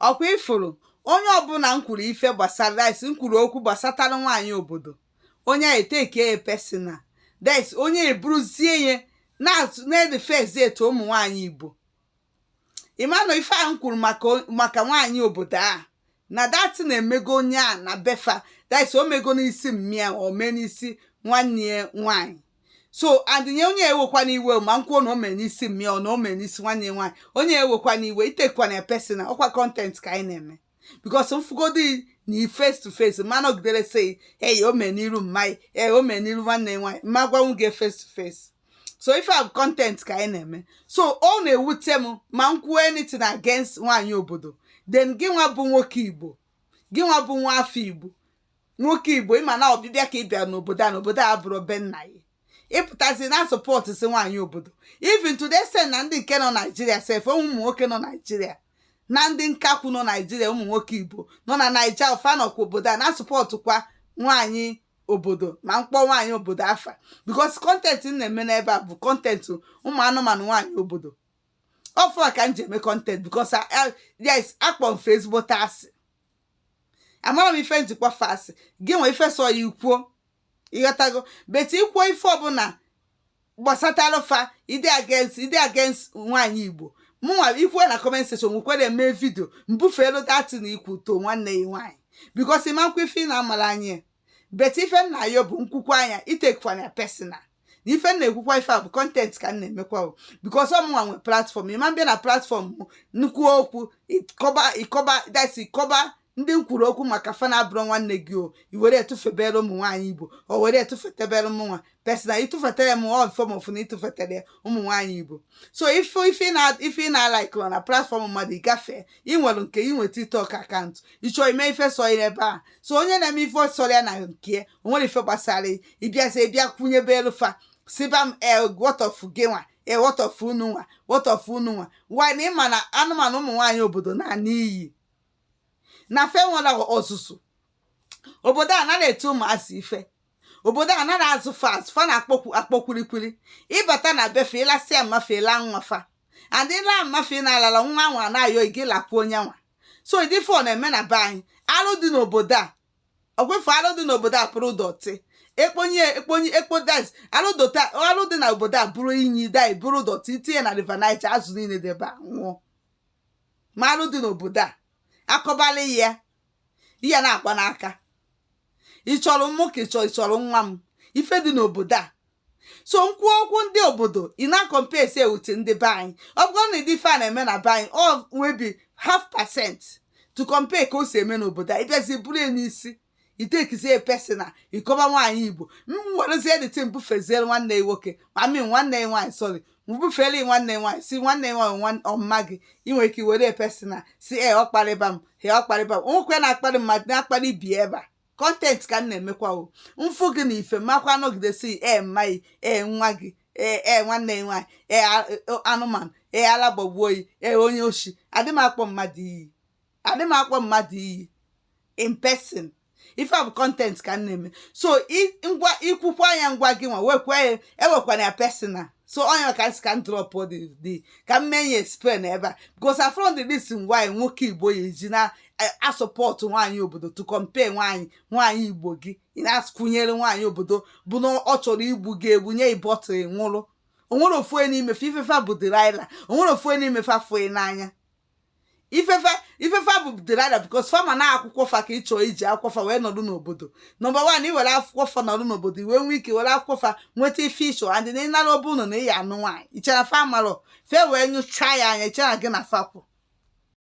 ọkwa ifuru onye ọbụla m kwuru ife gbasara that's m kwuru okwu gbasatara nwaanyị obodo onye a eteke ya personal that's onye eburuzie ya na-atụ na-edefezi etu ụmụ nwaanyị igbo ịmanụ ife a m kwuru maka o- maka nwaanyị obodo a na that na-emego onye a na be fa that's o mego n'isi mma ya o mee n'isi nwanne ya nwaanyị so adịnye onye ewekwana iwe ma m kwuo na o mere n'isi mma ya ọ na o mere n'isi nwanne ya nwaanyị onye ewekwana iwe itekwana ya personal ọkwa content ka anyị na-eme because m fụgodi na face to face ma nọgidere sị eyi o mere n'iru mma gị ee o mere n'iru nwanne ya nwaanyị ma gwanwu gị face to face so ife a bụ content ka anyị na-eme so ọ na-ewute m ma m kwuo anything against nwaanyị obodo then gị nwa bụ nwoke igbo gị nwa bụ nwa afọ igbo nwoke igbo ịma na ọbịbịa ka ị bịa n'obodo a n'obodo a bụrụ be nna ya ịpụtazi na support si nwaanyị obodo even today sef na ndị nke nọ Nigeria sef ụmụ nwoke nọ Nigeria na ndị nkakwu nọ Nigeria ụmụ nwoke igbo nọ na naija fa nọkwa obodo a na supportkwa nwaanyị obodo ma m kpọọ nwaanyị obodo afa because content m na-eme n'ebe a bụ content ụmụ anụmanụ nwaanyị obodo ọ fa ka m ji eme content because yes akpọ m fa ezigbote asị amara m ife m ji kpọ fa asị gị nwa ife sọ gị ikwuo ịghọtago but ikwuo ife ọbụla gbasatara fa ide against ide against nwaanyị igbo mụnwa ikwuo na comment section nwekwere mee video mbufeelu that na ikwutọ nwanne ya nwaanyị because ịmakwa ife ị na-amara anyị but ife m na-ayọ bụ m kwukwa nya itekwana ya personal na ife m na-ekwukwa ife a bụ content ka m na-emekwa o because ọmụnwa nwe platform ịma m bịa na platform m na-ekwu okwu ịkọba ịkọba that's ịkọba ndị m kwuru okwu maka fa na-abụrụ nwanne gị o i were etụfebere ụmụ nwaanyị igbo o were etụfetebere mụnwa personal ịtụfetere m ọ mfe mọfụ na ịtụfetere ya ụmụ nwaanyị igbo so ife ife ị na- ife ị na-alikerọ na platform mmadụ ịgafee ị nwere nke ị nweta TikTok account ịchọ ime ife sọ ya ebe a so onye na-eme ife sọrọ ya na nke o nwere ife gbasara ya. ịbịazi ịbịa kwụnyebelụ fa sịba m e what of gị nwa e what of unu nwa what of unu nwa while na ịma na anụmanụ ụmụ nwaanyị obodo na-ana iyi na fa enwerọ ọzụzụ obodo a anarọ eti ụmụazị ife obodo a anarọ azụ fa azụ fa na-akpọkwu akpọkwurikwuri ịbata na be fa ịlasịa mma fa ịla nwa fa and ịla mma fa na-alala nwa nwa na-ayọ gị lakwuo onye nwa so ụdị ife ọ na-eme na be anyị arụ dị n'obodo a ọkwa ịfụ alụ dị n'obodo a bụrụ dọtị ekponye ekponye ekpo that's alụ dota alụ dị na obodo a bụrụ inyi dai bụrụ dọtị itinye na river Niger azụ niile dị ebe a anwụọ ma alụ dị n'obodo a akọbala ya ihe na-agba n'aka ị chọrọ mụ ka ị chọrọ ị chọrọ nwa m ife dị n'obodo a so nkwu okwu ndị obodo ị na-acomparesi with ndị be anyị ọ bụrụ na ịdị ife a na-eme na be anyị o nwebi half percent to compare ka o si eme n'obodo a ị bịazi buru ya n'isi i takezie personal ị kọba nwaanyị igbo m werezie dirty m bufeziere nwanne ya nwoke I mean nwanne ya nwaanyị sorry m bufere ya nwanne ya nwaanyị sị nwanne ya nwaanyị nwa- ọ mama gị i nwere ike were personal sị e ọ kparịba m he ọ kparịba m o nwekwe na-akparị mmadụ na-akparị ibe ebe a content ka m na-emekwa o m fụ gị na ife makwa nọgidesi e mma gị e nwa gị ee e, nwanne gị nwaanyị ee e, anụmanụ ee ala gbagbuo gị ee onye oshi adị m akpọ mmadụ iyi adị m akpọ mmadụ iyi in person ife a bụ content ka m na-eme so ngwa i kwukwa anya ngwa gị nwa wekwa ya ewekwana ya personal so onye maka m sị ka m drop dị ka m mee ya explain ebe a because I found the reason why nwoke igbo ya eji na asupport nwaanyị obodo to compare nwaanyị nwaanyị igbo gị ị na-akwụnyere nwaanyị obodo bụ na ọ chọrọ igbu gị egbu nye gị bottle nwụrụ o nwere ofu onye n'ime fa ife fa bụ delilah o nwere ofu onye n'ime fa fụ ị n'anya ife fa ife fa bụ delilah because fa ma na akwụkwọ fa ka ị chọọ iji akwụkwọ fa wee nọdụ n'obodo number one i were akwụkwọ fa nọdụ n'obodo i wee nwee ike were akwụkwọ fa nweta ife ị chọ and na ị nara ọ bụ ụlọ na ị ya-anụ nwaanyị i chere fa amarọ ife wee nyụchaa ya anya i chere gị na fa kwụ